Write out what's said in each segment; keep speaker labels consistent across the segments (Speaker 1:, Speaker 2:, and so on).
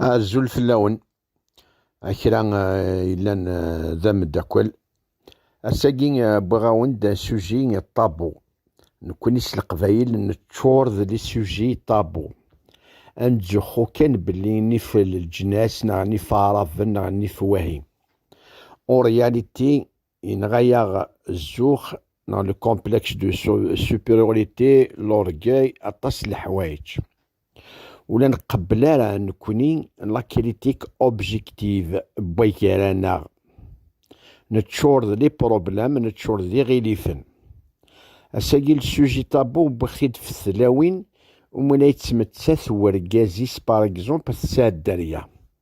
Speaker 1: Azul fell-awen a kra eh, yellan eh, d ameddakel. Ass-agi eh, wwiɣ-awen-d suji ṭabu. Nekkni s leqbayel neččur d lisuji ṭabu. Ad nettzuxxu kan belli nif leǧnas neɣ nif aɛraben neɣ nif wahi. En réalité, Yenɣa-yaɣ zzux neɣ le complexe de supériorité, l'orgueil, aṭas n leḥwayeǧ. Ur la nqebbel ara nekkni la critique objective n wagar-aneɣ. Neččur d les problèmes, neččur d iɣilifen. Ass-agi le sujet tabou wwiɣ-t-id f tlawin umi la yettmettat wergaz-is par exemple f tseddarya.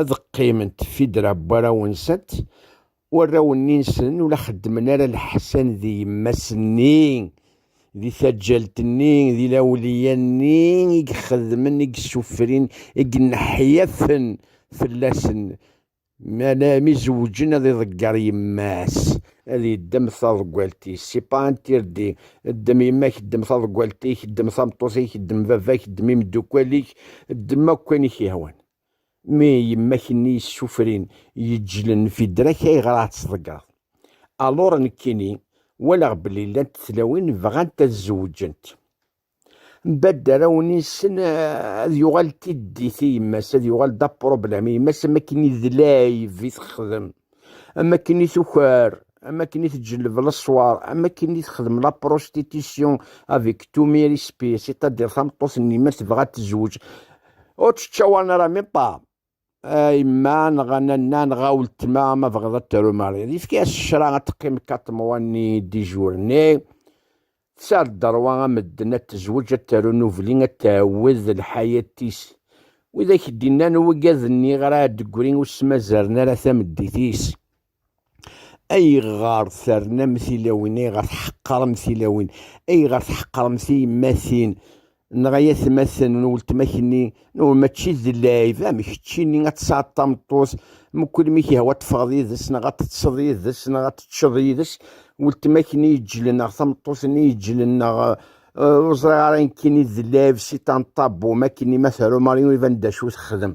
Speaker 1: Ad qqiment Fidra n warraw-nsent, warraw-nni-nsen ur la xeddmen ara leḥsan di yemma-s-nni, di taǧǧalt-nni, di lawliya-nni i ixeddmen, i isuffrin, i ineḥyafen fell-asen, mi ara izewǧen ad iḍegger yemma-s, ad iddem taḍeggalt-is, si pas interdit, ddem yemma-k, ddem taḍeggalt-ik, ddem tameṭṭut-ik, ddem baba-k, ddem imeddukal-ik, ddem akk ayen i k-yehwan. Mi yemmak-nni yessufrin yeǧǧlen Fidrak ayɣer ad tt-tḍeggreḍ? Alur nekkini walaɣ belli llant tlawin bɣant ad zewǧent. Mbadda arraw-nni-nsen ad yuɣal d tiddit i yemma-s, ad yuɣal d apṛublam i yemma-s am wakken idlay vi texdem. am akken i tukar am akken i tǧelleb leṣwar am akken i texdem la prostitution avec tout mes respects c'est-à-dire tameṭṭut-nni ma tebɣa ad tezweǧ ur tečča wanara mi ṭṭam yemma neɣ nanna neɣ aweltma ma bɣiḍ ad taru mariḍ yefka-as ccra ad teqqim kaṭ mwa-nni dijour-nni Tesɛa dderwa a medden ad tezweǧ ad taru nubli ad tɛewwed lḥayat-is. Wid ak d-innan ugaden-nni ɣer Ɛeddegri ur smazzaren ara tameddit-is. Ayɣer ternamt tilawin, ayɣer tḥeqqrem tilawin, ayɣer tḥeqqremt tiyemmatin Neɣ ay atmaten n weltma-k-nni, nwen mačči d lɛib, amek keččini ad tesɛeḍ tameṭṭut, mkul mi k-ihwa ad teffɣeḍ yid-s, neɣ ad teṭṭseḍ yid-s, neɣ ad teččeḍ yid-s, weltma-k-nni iǧǧlen, neɣ tameṭṭut-nni iǧǧlen, neɣ ur ẓriɣ ara nekkini d lɛib si ṭanṭabum, akkenni ma teru Marion iban-d acu texdem.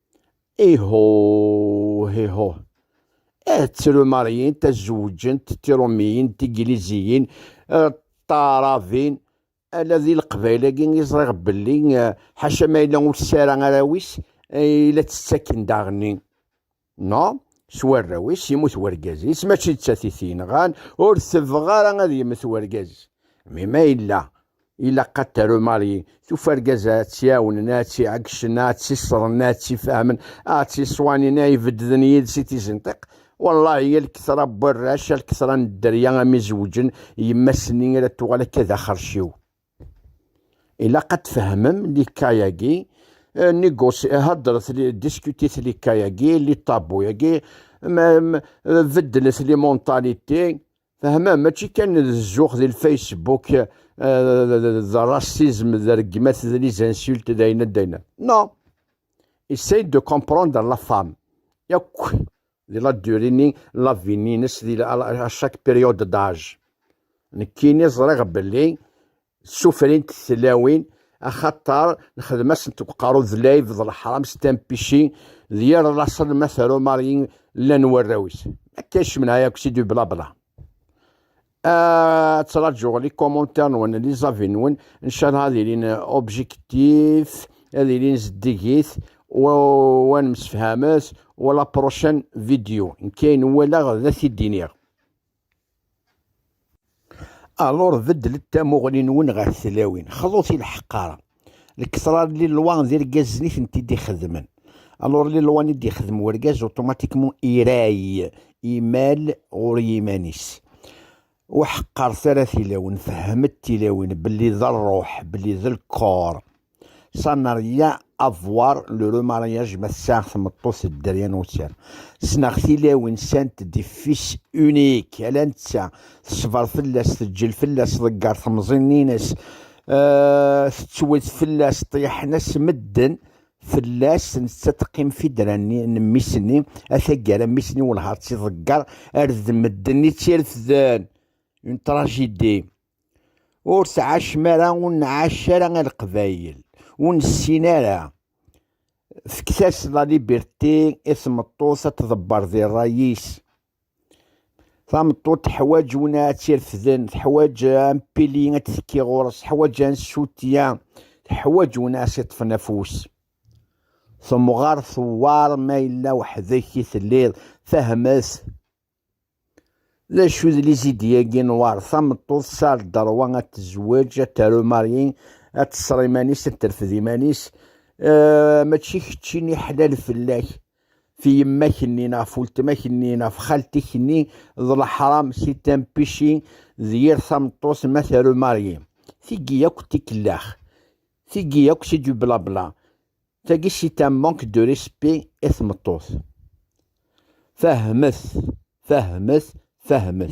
Speaker 1: Iho, iho. Eh, ttrumaryin, tazewǧent, tirumiyin, tigliziyin, eh, taɛrabin, ala di leqbayel-agi i ẓriɣ belli eh, ḥaca ma yella ur tesɛi ara arraw-is, eh, la tt-ttaken daɣenni. No, s warraw-is yemmut wergaz-is, mačči d tatit yenɣan, ur tebɣa ara ad yemmet wergaz. Mi ma yella Ilaq ad taru Mari, tufa argaz-a ad tt-iɛawnen, ad tt-iɛeggcen, ad tt-iṣren, ad tt-ifehmen, ad tt-iṣwanin, ad ibeddlen yid-s i tizenṭiq. Wallahi, a lketṛa n warrac, a lketṛa n dderya, a mi zewǧen, yemma-s-nni ara tuɣal akka d axerciw. Ilaq ad tfehmem likka-yagi, négocier, heddret, discutit likka-yagi, li tabou-yagi, beddlet les mentalités, Fehmem, mačči kan d zzux di lfacebook, d racisme, d rregmat, d les insultes, d ayen ad d-ayen. Non. Essaye de comprendre la femme. Yakk di la durée-ni, la vie-nnes, di à chaque période d'âge. Nekkini ẓriɣ belli Ssufrint tlawin axaṭer nexdem-asent deg uqerru d layb d leḥram s tampici d yir laṣel ma teru Mari llan warraw-is. Akka yecmen ay akk si du blabla. Ad ttṛajuɣ li commentaires nwen, li avis nwen, ncalha ad ilin objectif, ad ilin zeddigit, u ad nemsefhamet, u la prochaine vidéo. Nekk ayen walaɣ ad t-id-iniɣ. Alur beddlet tamuɣli-nwen ɣer tlawin, xḍut i lḥeqqara. Lketṛa n Lilwa d irgazen i tent-id-ixeddmen. Alur Lilwa i d-ixeddem urgaz, automatiquement iray imal ɣur yiman-is. Ur ḥeqqret ara tilawin, fehmet tilawin belli d rruḥ, belli d lkor. Ça n'a rien à voir le remariage ma ssaɣ tmeṭṭut d dderya n ussan. Ssneɣ tilawin sant des fils uniques ala netta teṣber fell-as teǧǧel fell-as ḍegger temẓin-nnes euh, tettwet fell-as ṭṭyaḥen-as medden fell-as netta teqqim fidra-nni n mmi-s-nni a taggara mmi-s-nni welhaɣ tt-iḍegger ar d medden i tt-irefden une tragédie ur tɛacem ara ur nɛac ara a leqbayel ur nessin ara fket-as la liberté i tmeṭṭut ad tḍebber di ṛṛay-is tameṭṭut teḥwaǧ win ad tt-irefden teḥwaǧ ampili ad tekki ɣur-s teḥwaǧ ansutya teḥwaǧ win ad s-iṭṭfen afus temɣer tewwar ma yella weḥd-k i telliḍ fehmet D acu d lizidi-agi n war tameṭṭut tesɛa lderwa ad tezweǧ, ad taru Mari, ad teṣṣer iman-is, ad terfed iman-is, eh, mačči keččini ḥlal fell-ak, f yemma-k-nni neɣ f weltma-k-nni neɣ f xalti-k-nni, d leḥram si tempici d yir tameṭṭut ma taru Mari. Tigi yakk d tikellax, tigi yakk c'est du blabla. Tagi c'est un manque de respect i tmeṭṭut. Fehmet, fehmet, fehmet.